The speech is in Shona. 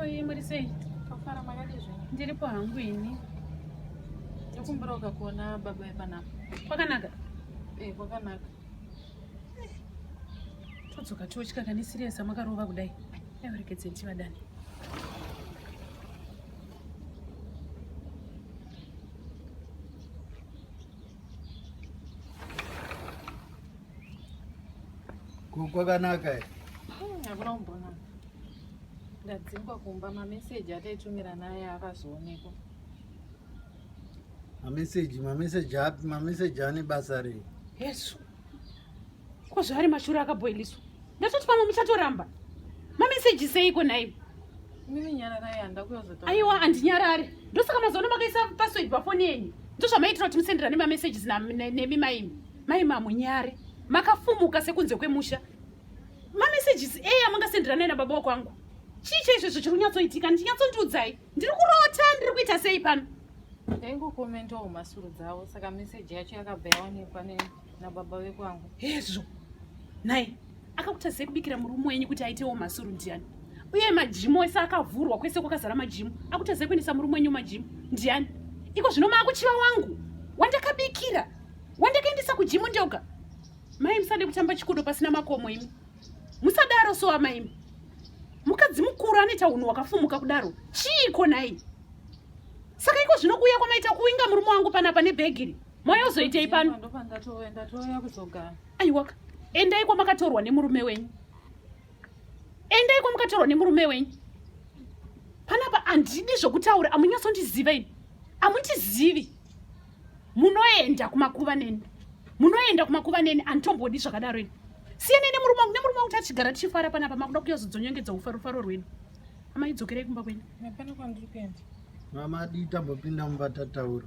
Oi, Marisei. Tofara makadii zvenyu? Ndiripo hangu ini. Ndikumbira ukakuona baba epanapo. Kwakanaka? Eh, kwakanaka. todzoka totya kani siriyesa makarova kudai aivarekedzeni tivadane kwakanaka eh? hmm, hakuna kumbonaka ndadzingwa kumba mameseji ataitumirana aya akazoonekwa mameseji mameseji api mameseji ane basa rei yesu ko zvaari mashura akaboiliswa ndatoti pamwe muchatoramba mameseji seiko nhai aiwa handinyarare ndosaka mazoona makaisa password pafoni yenyu ndozvamaitira kuti musenderane mamesages nemi maimi mai mamunyare makafumuka sekunze kwemusha mamesages eyi amangasenderane nababa wakwangu chii chaizvezvo chiri kunyatsoitika ndinyatsondiudzai ndiri kurota ndiri kuita sei pano ndaingokomentawo mhasuru dzavo saka meseji yacho yakabva yaonekwa nababa vekwangu hezvo nhai akakuta sei kubikira murume wenyu kuti aitewo mhasuru ndiani uye majimu ese akavhurwa kwese kwakazara majimu akuta sei kuendesa murume wenyu majimu ndiani iko zvino maakuchiva wangu wandakabikira wandakaendesa kujimu ndoga mai musade kutamba chikudo pasina makomo imi musadaro so amaimi mukadzi mukuru anoita unhu wakafumuka kudaro chiiko nhai saka iko zvino kuuya kwamaita kuinga murume wangu panapa nebhegiri moyo uzoitei pano aiwaka endai kwamakatorwa nemurume wenyu endai kwamakatorwa nemurume wenyu panapa handidi zvokutaura amunyatsondiziva ini amundizivi munoenda kumakuva neni munoenda kumakuva neni anditomboodi zvakadaro ini siyana nemurume wangu nemurume wangu tachigara tichifara panapa makuda kuyazodzonyengedza ufarofaro rwenyu amai dzokerei kumba kwenyu hapana kwandiri kuenda mama dii tambopinda mumba tataura